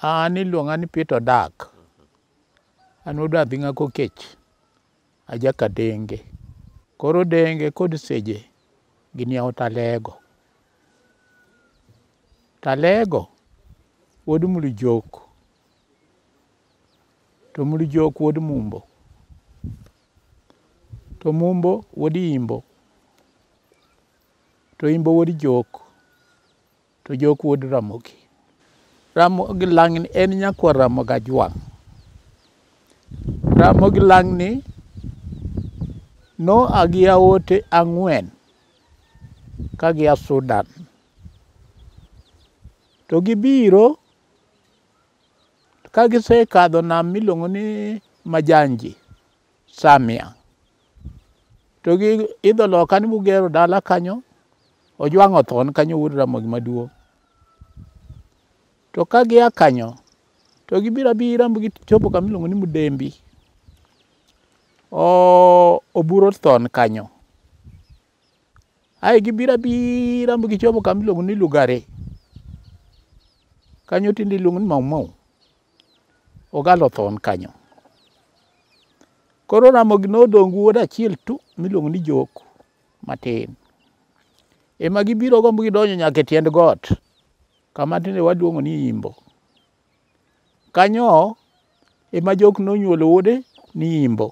An iluonga ni Peter Dak. An wuod Adhing'a Kokech. Aja Kadenge. Koro Denge kod Seje gini ao Talego. Talego wuod Mlujok. To Mlujok wuod Mumbo. To Mumbo wuod Imbo. To Imbo wuod Jok. To jok wuod Ramogi. Ramogi Lang'ni en nyakwa Ramogi Ajwang'. Ramogi Lang'ni noa gi aote ang'wen ka gia Sudan. To gibiro ka gisekadho nam miluongo ni Majanji. Samia. To gi idho loka ni mugero dala kanyo, Ojwang' othon kanyo wuod Ramogi maduong'. To ka gia kanyo, to gibiro abira ma gichopo kama iluongo ni Mudembi. O- Oburo thon kanyo. Ae gibiro abira ma gichopo kama iluongo ni Lugari. Kanyo tinde iluongo ni Mau Mau. Ogalo thon kanyo. Koro Ramogi nodong' gi wuod achiel tu miluongo ni Jok matin. Ema gibiro gombo gidonjo nyaka e tiend got kama tinde waluongo ni Imbo. Kanyo ema Jok nonyuolo wuode ni Imbo.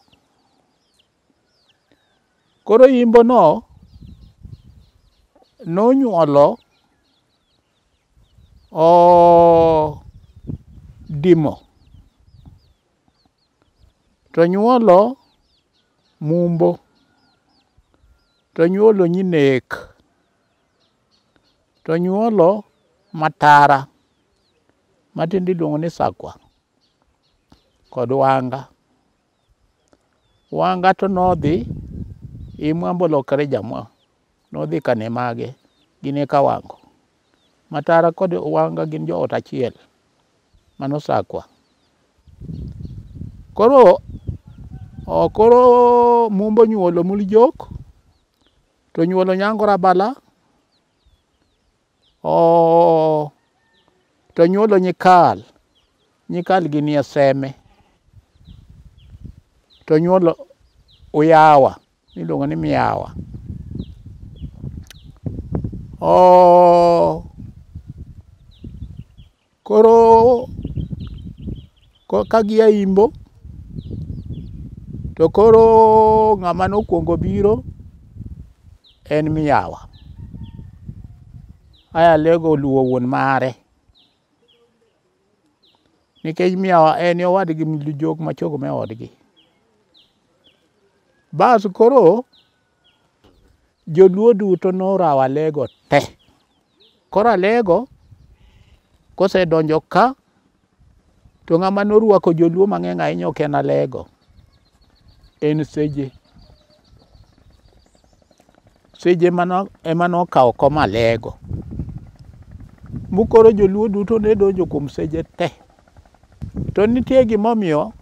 Koro yimbono nonyuolo Odimo, to nyuolo Mumbo, to nyuolo Nyinek, to nyuolo Matara matiende iluongo ni Sakwa kod Wanga. Wanga to nodhi imwa bolokre jamwa nodhi kane mage gin e kawango matara kod wanga gin joot achiel mano sakwa koro koro mumbo nyuolo muljok to nyuolo nyangora bala Oh, to nyuolo nyikal. Nyikal gi nie seme. To nyuolo uyawa. Iluongo ni miyawa. Oh, Koro ka gia Imbo to koro ng'ama nokwongo biro en Miyawa. Aya Alego oluwo wuon mare nikech Miyawa en e owadgi jok machok ma e odgi. Bas koro Joluo duto norawo Alego te. Koro Alego kosedonjo ka to ng'ama norwako Joluo mang'eny ahinya ok en Alego, en Seje. Seje ema nokawo kom Alego. Mokoro Joluo duto ne donjo kuom Seje te. To nitie gimomiyo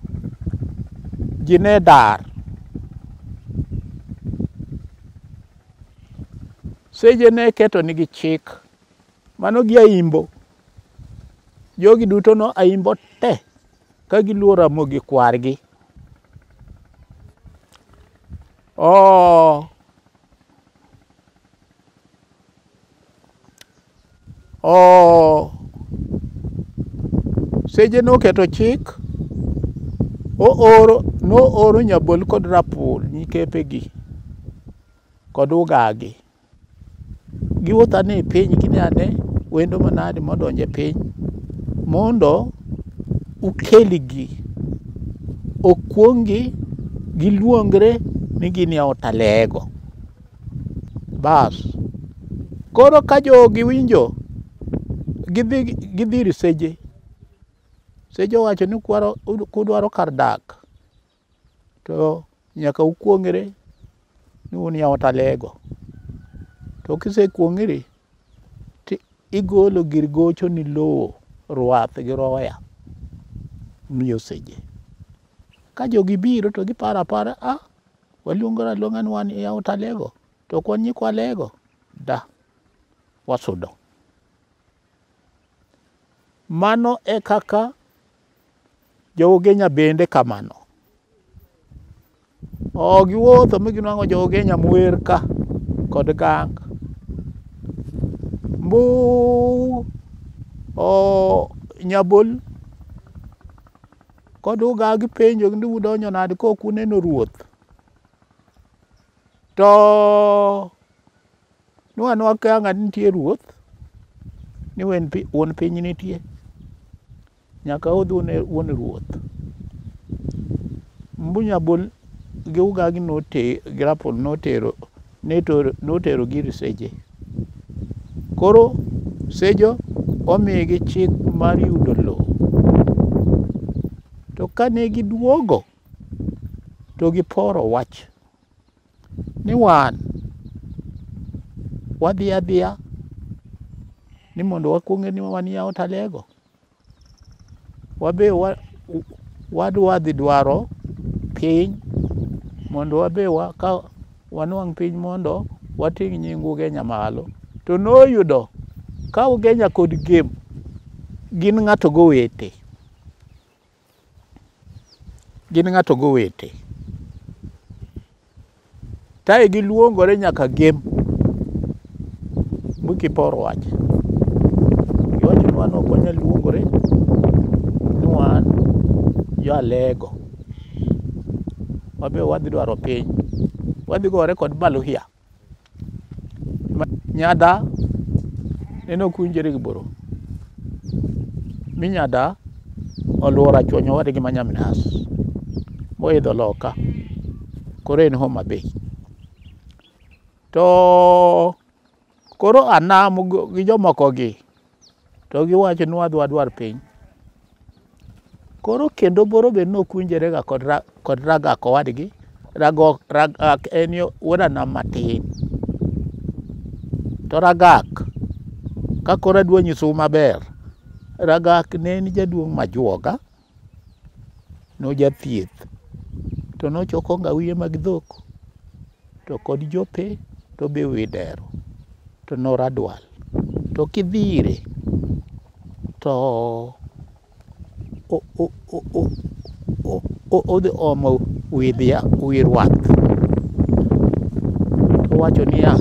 ji ne dar. Seche ne keto nigi chik. Mano gi aimbo. Jogi duto no aimbo te ka giluwo ramogi kwargi. Oh. o seje noketo chik ooro nooro nyabol kod rapul nyikepegi kod ugagi giwuotho ane e piny kine ane wendo manade modonjo e piny mondo ukelgi okuong'gi giluongre ni gin e otalego Bas. Koro ka jogi winjo gidhi gidhi ir seje. Seje owacho ni kwaro kudwaro kar dak to nyaka ukuong're ni un yaot alego. To kisekuong'ri ti igolo gir gocho ni lowo ruath gi roya miyo seje. Ka jogi biro to giparo apara a Waluongore aluonga ni wan yaut Alego, to ok wan nyikwa Alego. Da, wasudo. Mano e kaka jougenya bende kamano. O giwuotho mi ginwang'o jougenya mwer ka kod gang. Mbu o nyabol Kod uga gipenjo ni udonjo nade ka ok uneno ruoth. To nwa nwa ka ng'at nitie ruoth ni wen pi- wuon piny nitie. Nyaka udhi une wuon ruoth. Mbunya bol gi uga gi note gi rapol notero ne noterogi ir seje. Koro sejo omigi chik mar yudo lowo. To kane giduogo to giporo wach ni wan wadhi adhiya ni mondo wakwonge ni wan yawo talego. wabe wadwa dhi dwaro piny mondo wabe ka wanwang' piny mondo wating' nying Ugenya malo. To noyudo ka Ugenya kod Gem gin ng'ato gowete. gin ng'ato gowete tae giluongore nyaka gem mukipor wach iwacho ni wan ok wanyal luongore ni wan jo alego wabe wadhi dwaro piny wadhi gore kod baluhia Nyada nene ok winjore gi boro mi nyada oluoro achwonyo wadgi ma nyamnas moidho loka koro en Homa Bay to koro anam gi jomokogi To giwacho ni wadwa dwar piny. Koro kendo boro be ne ok winjore ga kod, ra, kod ragak owadgi. Ragok, ragak en yo wuoda nam matin. To ragak, ka koro adwa nyisou maber, ragak ne en jaduong' majuoga. Nojathieth to nochoko ngawiye mag dhok to kod jope to be widero to noradwal to kidhire to odhi omo wi rwath towacho niya,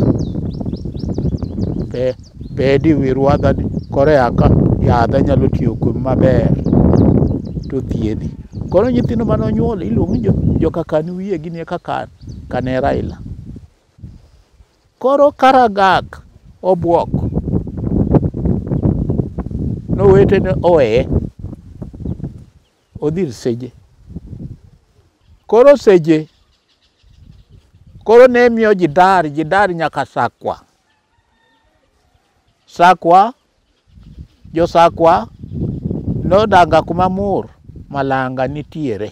bedi wi rwadha ni koro aka yadha nyalo tiyo kuom maber to thiedhi koro nyithindo mane onyuol iluongo ni jokakan wiye gini kakan kane Raila koro Karagak obwok nowetene oweye odhi ir Seje koro Seje koro ne miyo ji dar ji dar nyaka Sakwa Sakwa, josakwa nodaga kuma mur malanga nitiere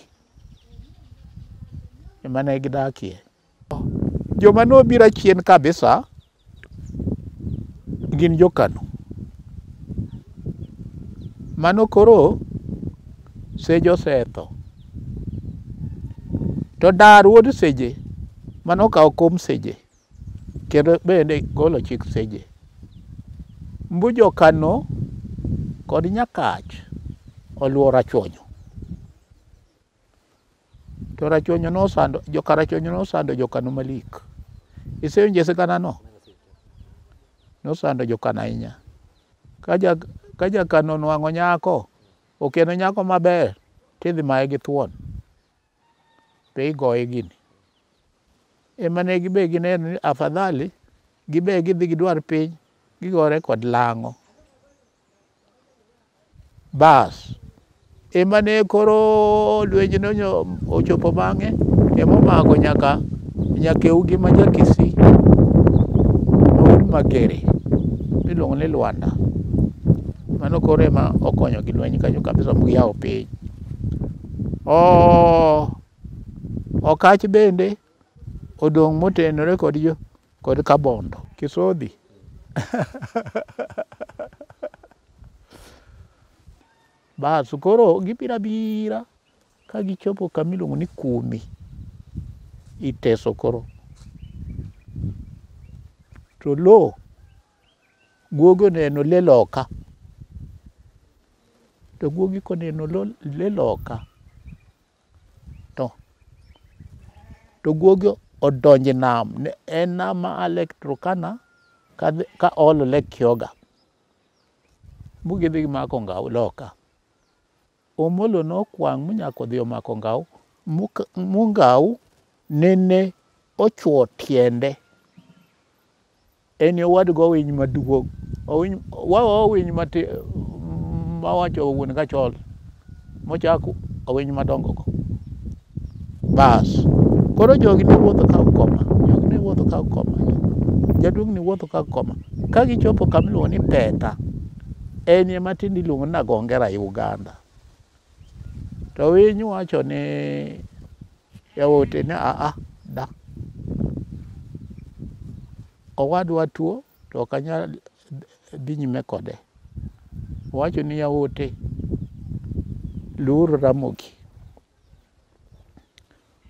ema ne gidakie. Joma nobiro achien kabisa gin jokano. Mano koro Seje osetho. To Dar wuod Seje mano okawo kom Seje Kendo bende golo chik seje. Mbujo Kano kod Nyakach oluwo Rachuonyo. To Rachuonyo nosando, joka Rachuonyo nosando jokano malik. Isewinje sigana no? Nosando jokano ahinya. Kaja, kaja Kano nwang'o nyako, okeno nyako maber, tidhi maye gi thuon. to igoye gini. Ema ne gibe gineno ni afadhali gibe gidhi gidwar piny gigore kod lang'o. Bas, ema ne koro lwenjno ochopo bang'e emomako nyaka nyakeugi ma jakisi magere miluongo ni Lwanda. Mano koro ema okonyogi lweny kanyo kabisa moyawo piny. Okach bende odong' motenore kod jo kod Kabondo. Kisodhi. Bas koro gibiro abira ka gichopo kama iluongo ni Kumi. Iteso koro. To lowo Guogi oneno le loka. To guogi koneno le loka to to guogi odonje nam en nam ma a Lake Turkana ka olo Lake Kyoga. Bugidhi gimako ngao loka. Omolo nokwang' monyako odhi omako Ngau. Mungau nene ochwo tiende. Eni owadgo owiny maduong'. Wawa owiny mati mawacho wuon kachol mochako owiny madongogo. Bas. Koro jogi ne wuotho ka ukoma. Jogi ne wuotho ka ukoma. Jaduong' ni wuotho ka ukoma. Ka gichopo kama iluongo ni Peta, en ema tinde iluongo ni Nagongera e Uganda. To winy wacho ni jaote ni aa da. Owadwa tuo to ok anyal dhi nyime kode. Owacho ni yaote, luwuru Ramogi.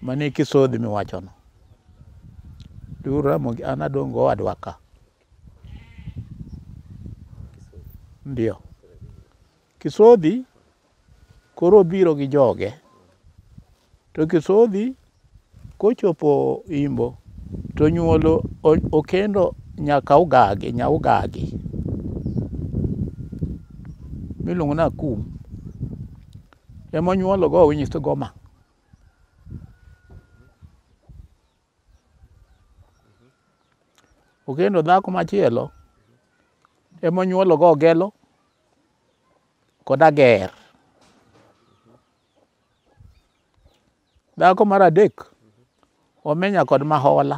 mane kisodhi miwachono Ramogi an adong' go owadwa ka ndio Kisodhi koro obiro gi joge to Kisodhi kochopo Imbo to nyuolo okendo nyaka Ugagi nya Ugagi miluongo ni Akum ema onyuolo go winyi to goma okendo dhako machielo ema onyuolo go ogelo kod ager dhako mar adek omenya kod mahola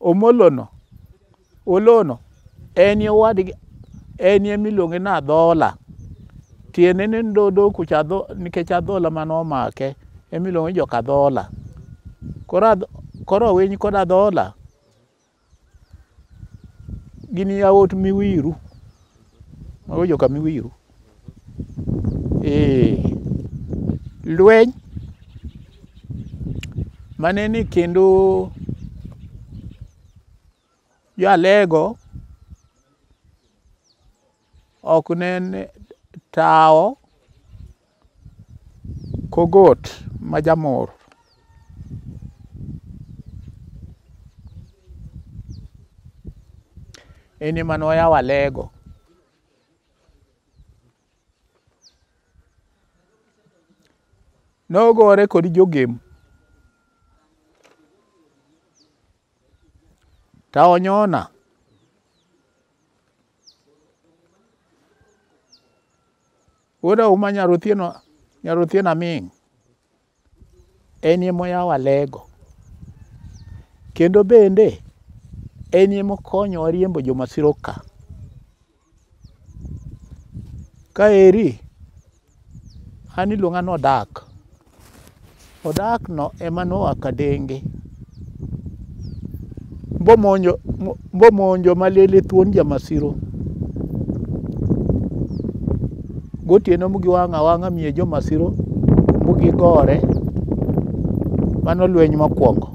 Omolono, Olono, enie owadgi, enie miluonge ni Adhola. Tiende ni ndodo kucha adho, nikech adhola mane omake, emiluonge ni joka Adhola. Koro adh, koro Owiny kod Adhola gin yawuot Miwiru. Mago joka Miwiru. Ee, lweny mane ni kendo jalego ok ne tawo kogot ma jamor en ema noyawo alego Nogore kod jogem. Ta onyona. Wuoda uma nyarothieno nyarothieno aming'. En ema oyawo alego. Kendo bende en ema okonyowa riembo jomasira oka. Ka eri an iluonga ni Odak. Odakno ema noa Kadenge. mbomonjo mbo- mbomonjo malele thuon jamasiro gotieno mugiwang'a wang'a miye jomasiro mugigore mano lweny mokwongo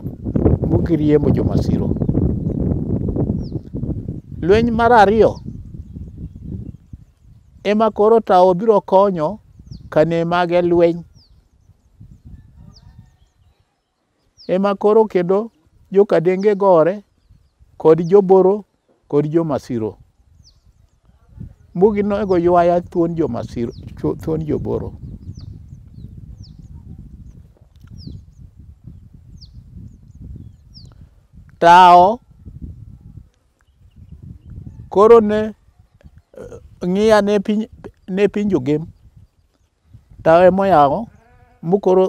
mugiriembo jomasiro lweny mar ariyo ema koro tawo biro konyo kane mage lweny ema koro kendo jokadenge gore kod joboro kod jomasiro mbugi nogo ywaya thuon jomasiro thuon joboro tawo koro ne eh, ng'iya ne piny ne piny jogem tawo emoyawo mukoro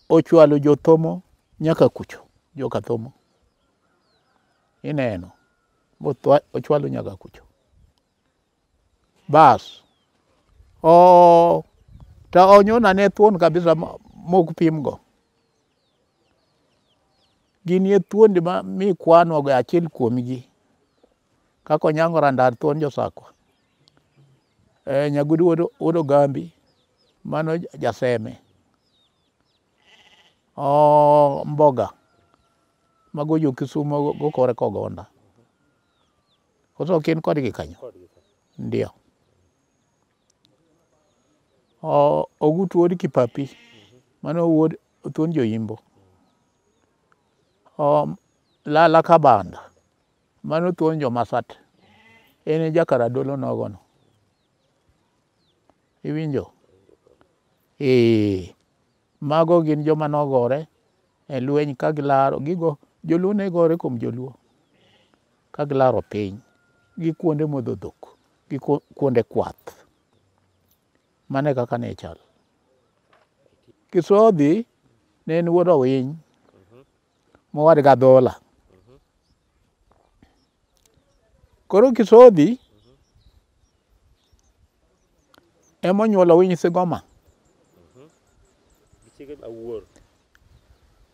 ochwalo jothomo nyaka kucho joka thomo ineno mothwa- ochwalo nyaka kucho bas o ta onyona ne thuon kabisa ma- mok pimgo ginie thuondi ma mikwanogo achiel kuomgi kaka onyango randar thuon josakwa Eh, Nyagudu wuod wuod Ogambi mano ja- jaseme. Oh, Mboga mago jo Kisumo go kore kogonda. Koso ok in kodgi kanyo? Ndio. Oh, Ogutu wuod Kipapi mano wuod Otuon Joimbo. Oh, Lala Kabanda Mano thuon jomasat en e jakaradolo nogono iwinjo ee mago gin joma nogore e lweny ka gilaro gigo joluo ne gore kuom joluo ka gilaro piny gi kuonde modho dhok gi kuonde kwath mane kaka ne chal kisodhi ne en wuod owiny mowad gi adhola. Koro Kisodhi ema onyuolo Owiny Sigoma.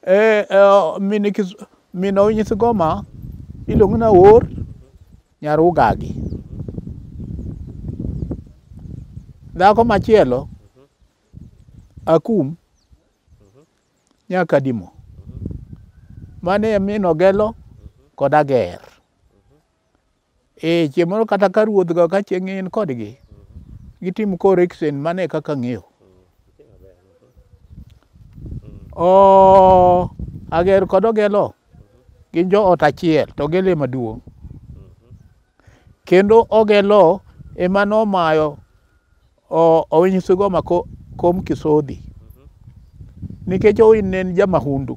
Eh, eh, min Kis- min Owiny Sigoma iluongo ni Awor nyar Ugagi. Dhako machielo Akum nyaka dimo mane min ogelo kod ager e chieng' moro kata ka ruodhgo ka chieng' in kodgi gitim correction mane kaka ng'eyo o ager kod ogelo gin joot achiel to ogelo ema duong' kendo ogelo ema nomayo Owiny Sigoma kom Kisodhi nikech Owiny ne en jamahundu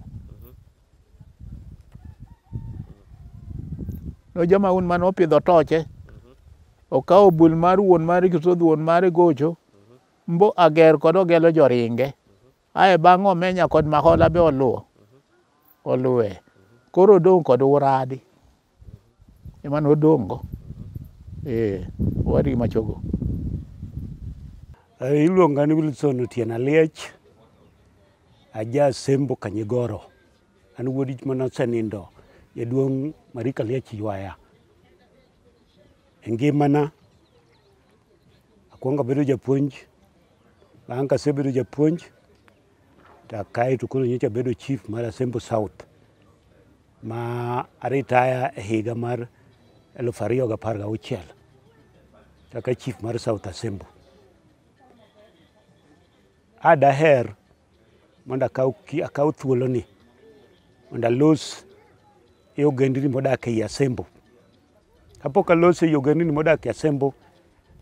no jamahundu mane opidho toche okawo bul mar wuon mare Kisodhi wuon mare gocho mbo ager kod ogelo joringe Ae bang' Omenya kod Mahola be oluwo oluwe. Koro odong' kod Uradi ema nodong'go. Ee, owadgi machogo. Eh, iluonga ni Wilson Otieno Aliech, aja Sembo Kanyigoro. An wuod ich mana osenindo jaduong' Marika Aliech ywaya. E ngimana akwongo abedo japuonj Bang' kasebedo japuonj to kae to koro nyocha bedo chief mar Asembo South ma aritaya e higa mar eluf ariyo gapar gauchiel kaka chief mar South Asembo. A daher mondo akaw ki- akaw thuoloni mondo alos e ogendni modak ei Asembo Kapok aloso ei ogendni modak e Asembo,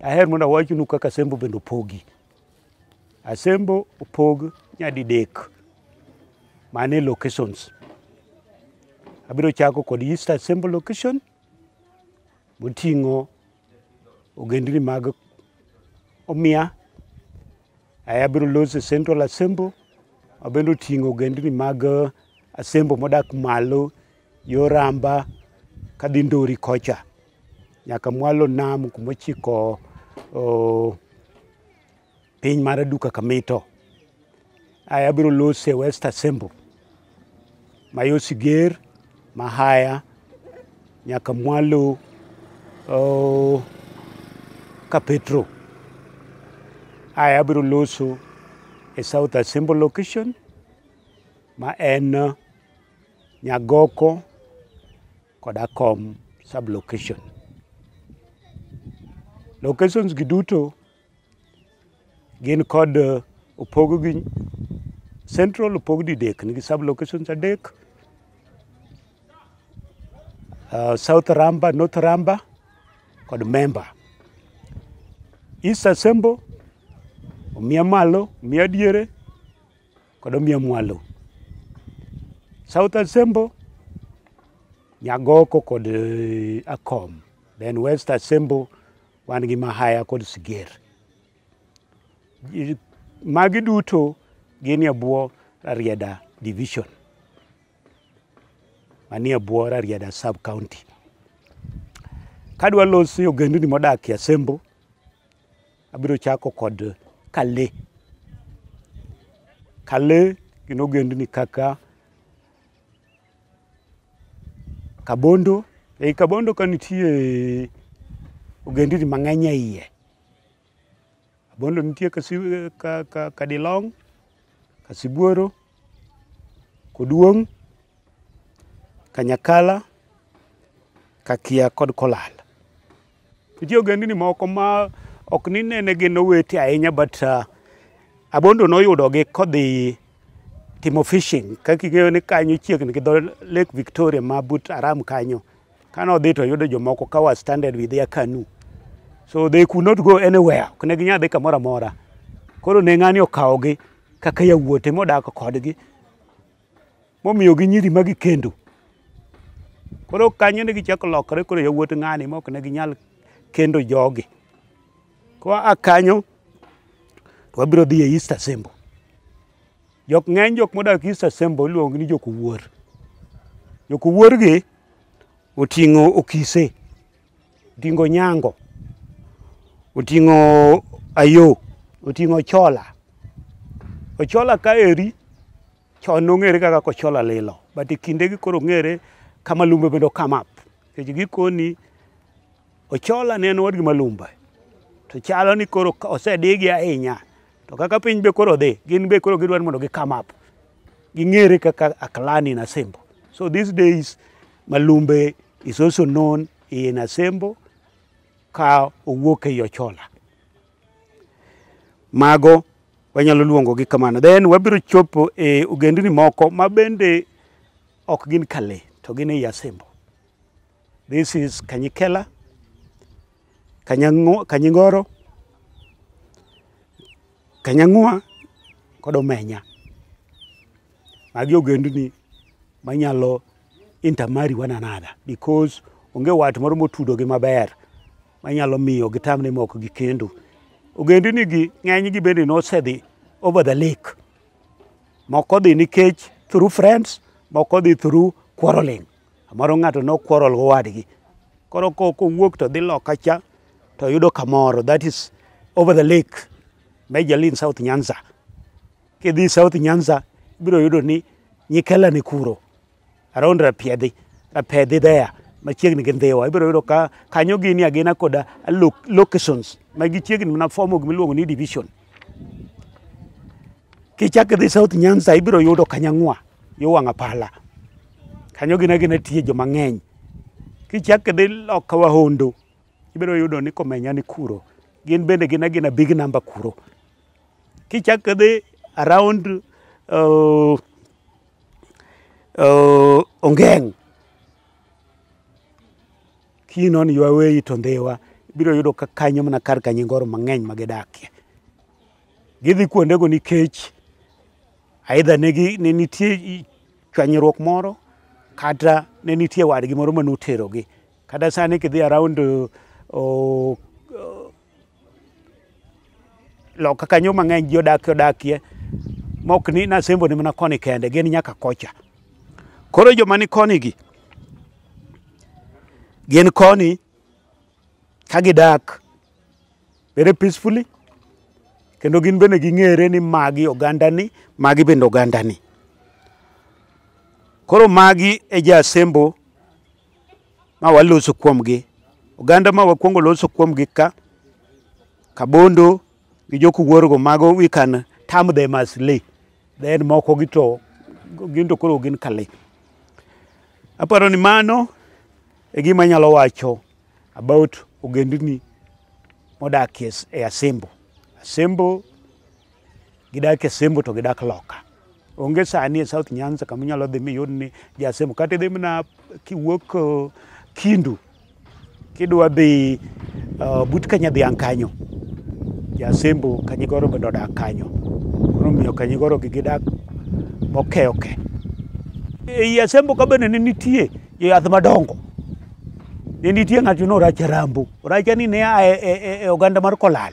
aher mondo awachnu kaka Asembo bende opogi. Asembo opog nyadidek mane locations. Abiro chako kod East Asembo location moting'o ogendni mag Omia. Aya abiro loso Central Asembo mabende oting'o ogendni mag Asembo modak malo yo ramba kadhi ndori kocha nyaka mwalo nam kumochiko oh, piny mar duka kamito aya abiro lose west assembly mayo siger mahaya nyaka mwalo oh, ka petro aya abiro loso e south assembly location ma en Nyagoko kod Akom sublocation. Locations gi duto gin kod eh, opog gi central opog didek nigi sublocations adek uh, South Ramba, North Ramba kod Memba. East Asembo, Omia Malo, Omia Diere, kod Omiyo Mwalo, South Asembo, Nyagoko kod eh, Akom. Then West Asembo wan gi Mahaya kod Siger. Ji- Magi duto gin e bwo Rarieda Division manie bwo Rarieda Sub County. Kadwa loso ogendni modak e Asembo, Abiro chako kod Kale. Kale gin ogendni kaka Kabondo. Ei Kabondo ka nitie ogendni mang'eny e iye. Kabondo nitie Kasi- ka- ka- Kadilong, Kasibuoro, Koduong', Kanyakala, Kakia kod Kolal. Nitie ogendni moko ma ok ni nene gin owete ahinya but uh, Abondo noyudogi kodhi timo fishing kaka ing'eyo ni kanyo chiegni gi dho Lake Victoria ma but Aram kanyo. Kane odhi to oyudo jomoko ka was stranded with their canoe. So they could not go anywhere. Ok ne ginyal dhi kamoro amora. Koro ne ng'ani okawogi kaka yawuote modak kodgi. momiyo gi nyiri magi kendo koro kanyo ne gichako lokore koro yawuot ng'ani mok ne ginyal kendo jogi koa a kanyo to wabiro dhi e East Assembly jok ng'eny jok modak East Assembly iluongo ni jok wuor jok wuor gi oting'o okise oting'o nyango oting'o ayo oting'o chola ochola ka eri Chon nong'ere kaka kochola lilo, but e kinde gi koro ng'ere kama lumbe bende come up. Kech gikoni ochola ne en wadgi malumba. To chalo ni koro osedigi ahinya. To kaka piny be koro dhi, gin be koro gidwani mondo gi come up. Ging'ere kaka aklani na sembo. So these days, Malumbe is also known in Asembo ka owuok ei Ochola. Mago wanyalo luongogi kamano then wabiro chopo e ogendni moko ma bende ok gin kale to gin ei asembo this is kanyikela Kanyango- kanyingoro kanyang'ua kod omenya magi ogendni manyalo intermarry one another because onge wat moro motudogi maber manyalo miyo gitam ni moko gi kendo ogendini gi ng'eny gi bende nosedhi over the lake moko dhi nikech through friends moko dhi through quarreling amoro ng'ato no quarrel go wadgi koro ko kowuok to dhi loka cha to yudo kamoro that is over the lake majorly in south nyanza kidhi south nyanza ibiro yudo ni nyikela ni kuro around rapiedhi rapedhi there machiegni gi ndhiwa ibiro yudo ka kanyo gini agina koda lo- locations ma gichiegni mana fomo gimiluongo ni division kichak idhi south nyanza ibiro yudo kanyang'wa yo wang' apala kanyo gina gina tie joma ng'eny kichak idhi loka wahondo ibiro yudo ni komenya ni kuro gin bende gina gina big number kuro kichak idhi around uh, uh, ongeng kinon ywaweyi to ndhiwa biro yudo ka kanyo mana kar ka nyingoro mang'eny ma gidakie gidhi kuondego nikech aidha ne nitie chwanyruok moro kata ne nitie wadgi moro mane oterogi kata sani kidhi around uh, uh, loka kanyo mang'eny ji odakie odakie mok ni nasembo ni mana koni kende gin nyaka kocha koro joma ni koni gi gin koni ka gidak very peacefully kendo gin bende ging'ere ni magi ogandani magi bende ogandani koro magi e ja asembo ma waloso kuomgi. Oganda ma wakwongo loso kuomgi ka Kabondo gi jokuwuorgo mago we can term them as Lee. Then moko gi to gin to koro gin ka Lee. Aparo ni mano e gima anyalo wacho about ogendni modakie e Asembo. Asembo Gidak e Sembo to gidak Loka. Onge sani e South Nyanza kama inyalo dhi miyud ni ja Sembo. Kata idhi mana kiwuok uh, Kindu kidwa dhi uh, but Kanyadhiang' kanyo. Ja Sembo Kanyigoro bende odak kanyo. Koro omiyo Kanyigoro gi gidak moke oke. Ei Asembo ka bende ne nitie joyath madongo. Ne nitie ng'ato ni Oracha Rambo. Oracha ni ne a e, e, e, e oganda mar Kolal.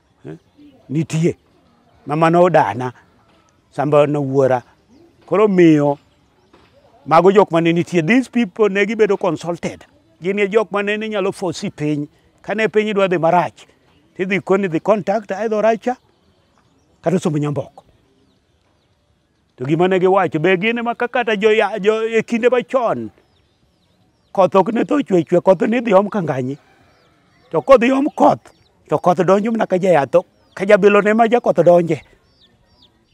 Eh? Nitie. Mama no dana. Samba no wuora. Koro miyo mago jok mane nitie these people ne gibedo consulted gin e jok mane ni nyalo fosi piny kane piny idwa dhi marach tidhi koni dhi contact aidho racha kata sombo nyamboko To gima ne giwacho be gin ma kata jo e kinde machon koth ok ne tho chwe chwe koth ni dhi om kanganyi to kodhi om koth to koth donjo mana ka jayath ka jabilo ne ma jakoth donje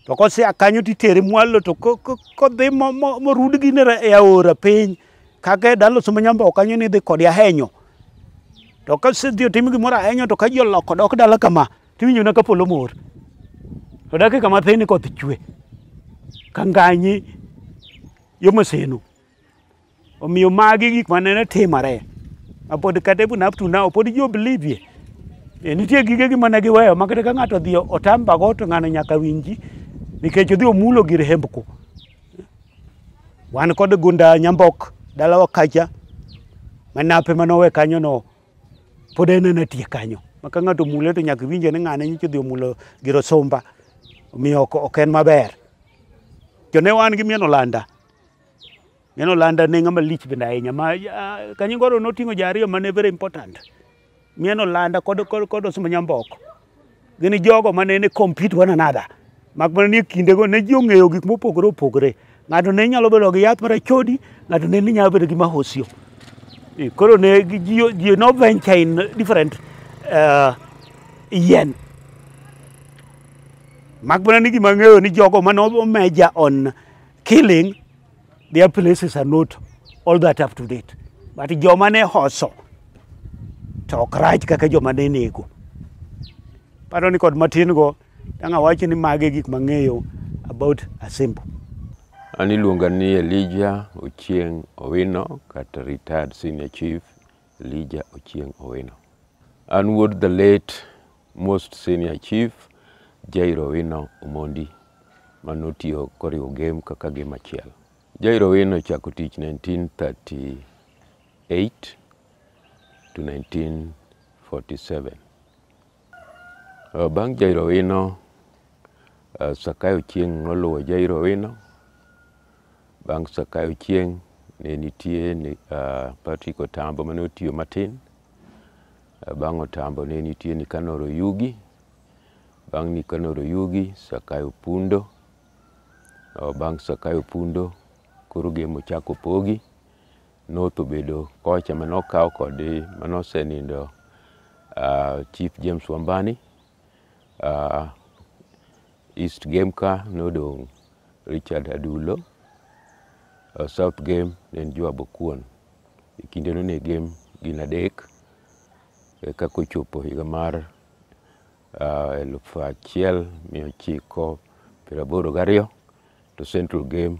to kosea kanyo titere mwalo to kodhi morud gi e aora piny kaka e dalo suma nyambo kanyo ni dhi kodi ahenyo to kasedhi otim gimoro ahenyo to ka ji oloko dok dala kama Tiwinjona ka polo mor. To dakika mathin koth chwe. Ka nganyi yo maseno. Omiyo magi gik ma nene timore. Apod kata even up to now, pod ji oblivie. E, nitie gige gi mane giweyo ma kata ka ng'ato odhi otambago to ng'ano nyaka winji nikech odhi omulo gir hembko. Wan kod gunda Nyambok dalawa kacha manape manowe kanyono pod en ena tie kanyo ma ka ng'ato mule to nyaka winje ni ng'ane nyicho dhi omulo giro sumba omiyo ok en maber to ne wan gi mien olanda mien olanda ne ng'ama lich bende ahinya ma kanyingoro noting'o ja ariyo mane very important mien olanda kod kod kod osumba nyamboko gin jogo ma nene compete one another mak mana ni e kindego ne ji ong'eyo gik mopogore opogore ng'ato ne nyalo bedo gi yath marachodi ng'ato ne ni nyalo bedo gi mahosio e, koro ne ji no venture in different uh, yien mak mana ni gima ng'eyo ni jogo mane omeja on killing Their places are not all that up to date. But joma ne hoso to ok rach kaka joma ne nego. Paro ni kod matin go tanga wacho ni mage gik mang'eyo about Asembo. An iluonga ni Elijah Ochieng' Owino kata retired senior chief Elija Ochieng Owino. An wuod the late most senior chief Jairo Owino Omondi ma notiyo koriwo game kaka game achiel. Jairo Owino ochako tich 1938 to 1947. Eh, bang' Jairo wino, eh, Sakayo chieng' noluwo Jairo wino. Bang' Sakayo chieng' ne nitie ni, eh, Patrick Otambo mane otiyo matin. Eh, Bang' Otambo ne nitie Nikanor Oyugi. Bang' Nikanor Oyugi, Sakayo Pundo. Eh, Bang' Sakayo Pundo, koro game ochako pogi. North obedo kocha mane okaw kod mane osenindo uh, Chief James Wambani uh, East Game ka nodong' Richard Adulo uh, South Game ne en Joab Okuon e kindeno ne game gin adek eka kochopo higa mar uh, eluf achiel mia ochiko piero aboro gariyo to Central Game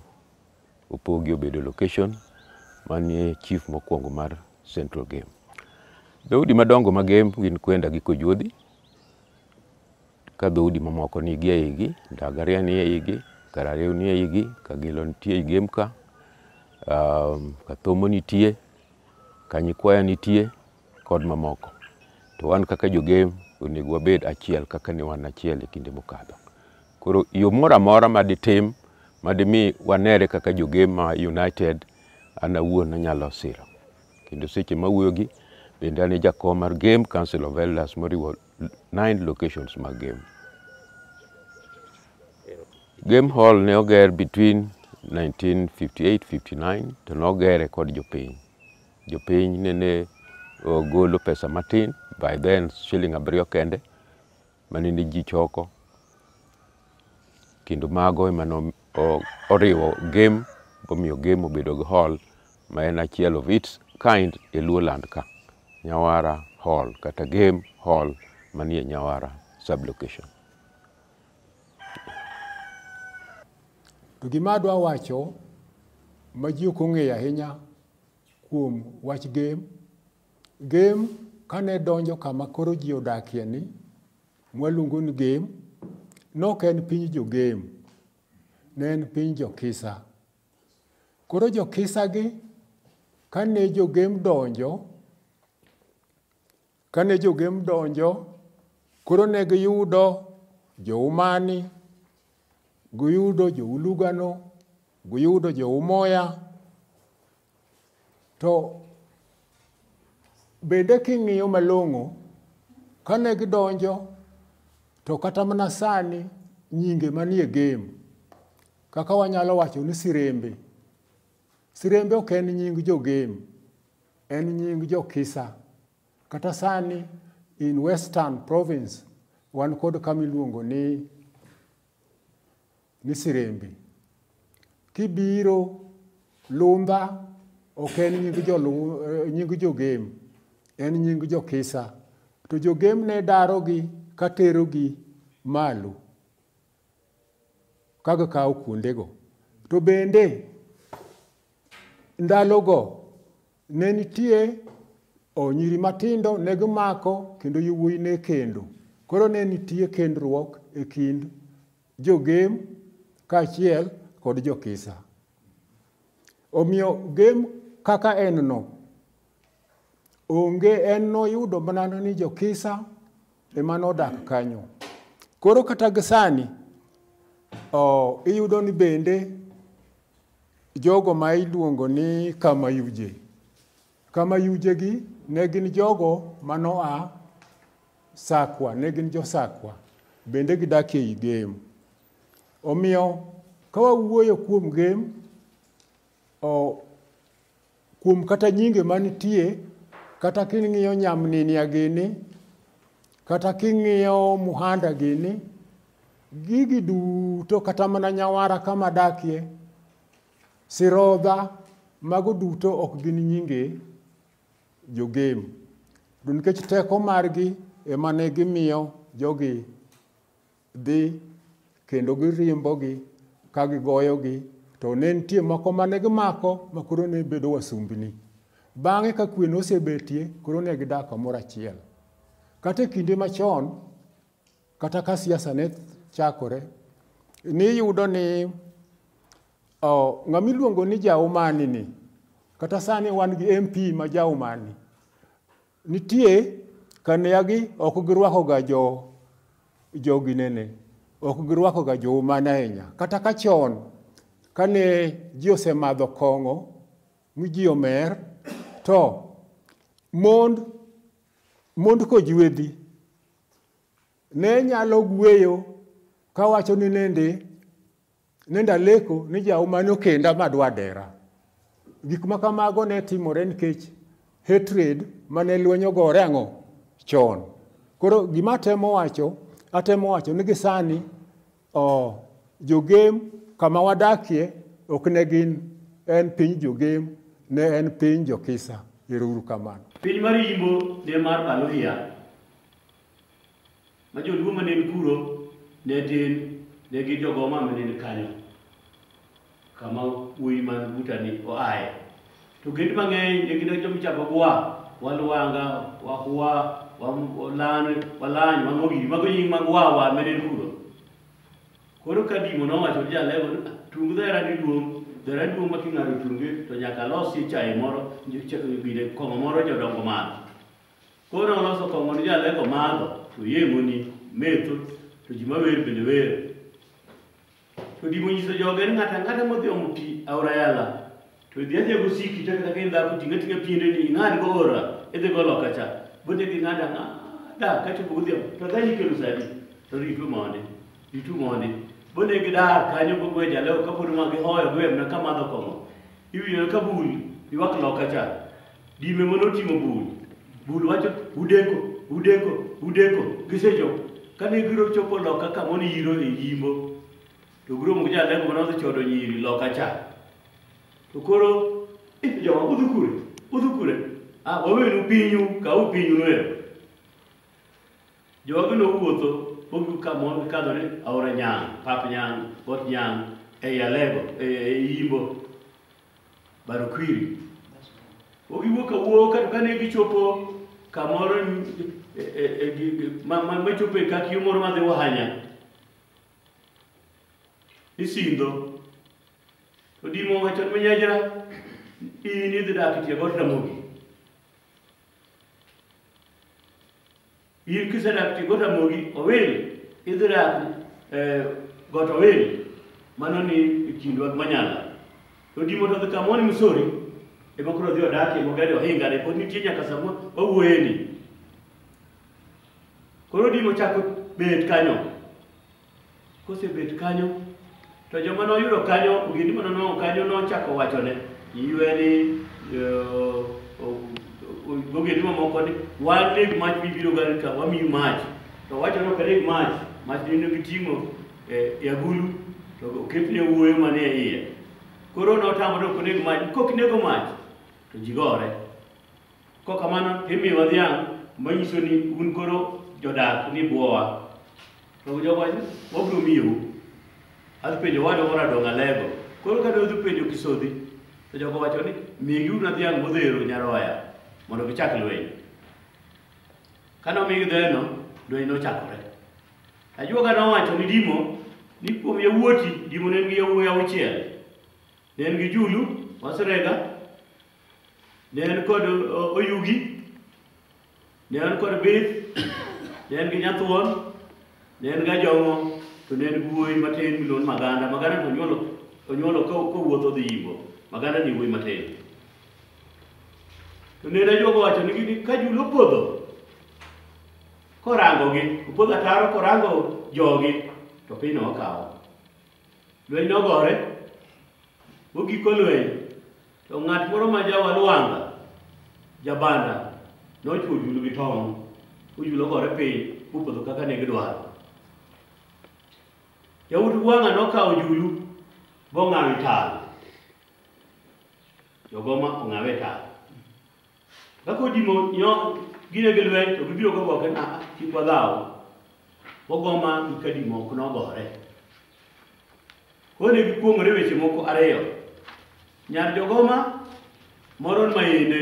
opogi obedo location manie chief mokwongo mar Central Game. Dhoudi madongo ma Game gin Kwenda gi Kojuodhi, ka dhoudi mamoko nigi e igi, Ndagaria ni e igi, Karariw ni e igi, Kagilo nitie e Game ka, um, Kathomo nitie, Kanyikwaya nitie kod mamoko. To wan kaka jo Game onego wabed achiel kaka ne wan achiel e kinde mokadho. Koro yo moro amora ma ditim ma dimi wanere kaka jogema United, an awuon anyalo siro. Kendo seche ma awuoyo gi bende an e jakom mar Game Council of Elders moriwo nine locations mag Game. Game Hall ne oger between 1958-59 to nogere kod jopiny. Jopiny nene golo pesa matin, by then shilling abiriyo kende, manende ji choko kendo mago ema oriwo game bomiyo game obedo gi hall ma en achiel of its kind e Luo land ka Nyawara hall kata game hall manie Nyawara sublocation. To gima adwa wacho ma ji ok ong'eyo ahinya kuom wach game Gem kane donjo kama koro ji odakie ni mwaluongo ni Gem, nok en piny jo-Gem, ne en piny jo-Kisa. Koro jo-Kisagi kane jo-Gem donjo, kane jo-Gem donjo, koro ne giyudo jo-Umani, giyudo jo-Ulugano, giyudo jo-Umoya, To bende king'iyo malong'o, kane gidonjo to kata mana sani nyinge manie game kaka wanyalo wacho ni sirembe. Sirembe ok en nying jo game, en nying jo kisa. Kata sani in western province wan kod kama iluongo ni ni sirembi kibiro lumba ok en nying jolu nying jogem en nying jokisa to jogem ne darogi ka terogi malo kaga kawo kuondego to bende ndalogo ne nitie onyiri matindo ne gimako kendo yowuoyi ne kendo koro ne nitie kendruok e kind jogem kaachiel kod jokisa. Omiyo gem kaka en no, onge en noyudo mana ni jokisa ema nodak kanyo. Koro kata gisani oh, iyudo ni bende jogo ma iluongo ni Kamayuje Kama yujegi ne gin jogo ma noa Sakwa, ne gin jo-Sakwa, bende gidak ei Gem. Omiyo ka wawuoyo kuom Gem, o, kuom kata nyinge manitie, kata king'iyo nyamninia gini, kata king'iyo muhanda gini, gigi duto kata mana nyawara kama dakie, Sirodha, mago duto ok gin nyinge jogem. To nikech teko margi ema ne gimiyo jogi dhi kendo girimbogi ka gigoyogi to ne nitie moko mane gimako ma koro ne bedo wasumbni. Bang'e ka kwe nosebetie koro ne gidak kamoro achiel. Kata e kinde machon Kata ka siasa ne chakore, niyudo ni oh, ng'ama iluongo ni Jaumani ni, kata sani wan gi MP ma Jaumani, nitie kaneagi ok girwakoga jo joginene, ok girwakoga Joumani ahinya. Kata ka chon kane ji osemadho kong'o mi ji omer, to mond mond kojuedhi ne nyalo gweyo kawacho ni nende nende aleko ni jauma nokenda madwa dera gik ma kamago ne timore nikech hatred mane lwenyo gore ang'o chon koro gima atemo wacho atemo wacho ni gisani Oh, jogem kama wadakie ok ne gin en piny jogem ne en piny jokisa ero uru kamano piny mar yimbo ne mar baluhia ma joluo ma ne kuro ne tin ne gin jogoma ma ne kanyo kama wuoyi man butani oaye. To gend mang'eny ne gin joma ichako gwa, walwanga, wahwa, wam- walan, walany, wang'ogiri, mago nying mag wawa mene kuro. Koro ka dimo nowacho ni jalego ni "Ah, tung dhera ni duong', dhera duong' ma king'ado tunge to nyaka losi chae moro, nj- ch- gine kong'o moro jodongo madho. Koro oloso kong'o ni jalego madho, to yemoni, metho, to ji mawer bende wer. To gima onyiso jogo en ng'ato ang'ata modhi omo pi aora yala to idhi adhiya gosiki to kata ka in dhako ting' ating'a piendeni ing'ad go ora idhi go loka cha bote gi ng'ada ng'ada kachopo godhiambo to dhani ikelo sadi to ritu mondi ritu mondi bone gi dar kanyo go gwe jaleo kapod ma gihoyo gwe mna kamadho kong'o iwinjo ka bul ywak loka cha Dime mane oting'o bul, bul wacho udeko, udeko, udeko, gisechopo. Kane giro chopo loka kama one yiro e yimbo, to giromo gi jalego mane odhi chodo nyiri loka cha. To koro, "Eh, jowa udhi kure, udhi kure, ah, wawenu pinyu, kaw pinyu noero. Jogi nowuotho mogi kama kadho ni aora Nyang', pap Nyang', got Nyang', ei Alego, e- e Yimbo. Barokwiri. O giwuok awuok kata kane gichopo kamoro e, e, e, gi- gi- ma- ma- machopo e kak yo moro madhi Wahanya. Isidho. Odimo wacho ni nyajra in idhi dak e tie got Ramogi. In kisedak ti got amogi owil, idhi dak eh, got owil, mano ni e kind wag manyala. To dimo to dhi kamoni Missouri, ema koro odhi odakie mogero ohinga ne pod nitie nyaka sama wawuoyeni. Koro dimo chako bet kanyo. Kosebet kanyo, to joma noyudo kanyo, ogendni ma nonwang'o kanyo nochako wachone ywe ni ogendni mamoko ni wan neg mach mibiro gar ka wamiyi mach to wacho ni ok neg mach mach nino giting'o e agulu to oketne wuoyo mane e iye koro notamore ok oneg mach kok nego mach to ji gore Kok kamano to imiyowa dhiang' manyiso ni un koro jodak ni bwowa. To jogo wacho, wabiro miyou. Adhi penjo owadwa moro Adong' Alego. Koro kane odhi penjo Kisodhi, to jogo wacho ni migiuru na dhiang' modhero nyaroya mondo gichak lweny. Kane omigi dheno, lweny nochakore. Ajuoga nowacho ni Dimo ni kuom yawuoti, Dimo ne en gi yawuoyi auchiel. Ne en gi Julu, Wasrega, Ne en kod o- oyugi, ne en kod bith, ne en gi nyathuon, ne en gi ajong'o, to ne en wuoyi matin miluongo ni Maganda. Maganda to onyuolo, onyuolo ka kowuotho odhi Imbo. Maganda ni wuoyi matin. To ne ajuogo wacho nigi ni ka jul opodho, korangogi, opodho ataro korango jogi, to pinyno okawo. Lweny nogore, mogiko lweny, to ng'at moro ma jawa Lwanga, jabanda, nochwo julu gi tong', ojulu ogore piny, mopodho kaka ne gidwaro. Yawuot Lwanga nokawo julu, bong'awo e tal. Jogoma ong'awe e tal. Ka kodimo nyo gine gi lweny to gibiro go boke na kik wadhaw. Ogoma gi kadimo ok nogore. Kone gikuong'ore weche moko ariyo. Nyar jogoma moro ma yende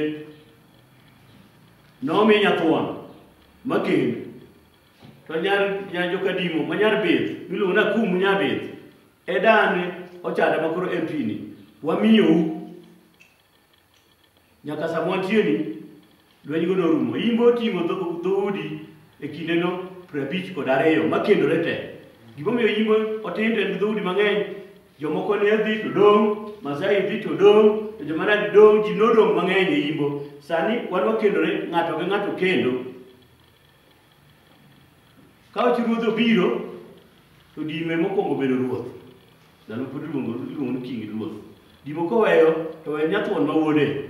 nomi nyathuon makend to nyar nyar jokadimo ma nyar bith miluongo na kum nyar bith e dan ochada makoro MP ni wamiyou Nyaka sama wantieni, lwenygo norumo. Imbo oting'o dho- dhoudi e kindeno piero abich kod ariyo makendore te. Gimomiyo imbo otindo en gi dhoudi mang'eny, jomoko ne dhi to dong', Masai dhi to dong', to joma nadi dong', ji nodong' mang'eny e imbo. Sani wan wakendore ng'ato gi ng'ato kendo. Ka wacho ruodh obiro, to dime mokwongo bedo ruoth. Ndalo pod iluongo iluongo ni king ruoth. Dimo koweyo to we nyathuon ma wuode.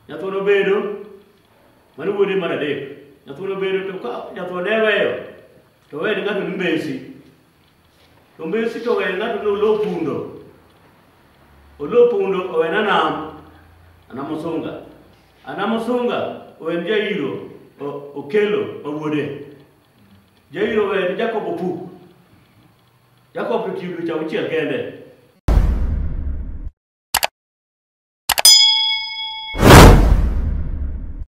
Nyathuon obedo mano wuode mar adek. Nyathuon obedo to ka nyathuon ne weyo to wene ng'ato ni mbesi. To Messi to owene ng'ato ni olo pundo. Olo pundo owene anam. Anam Osunga. Anam Osunga owen Jairo o- Okelo ma wuode. Jairo owen Jacob Opuk. Jacob to tiyo dweche auchiel kende.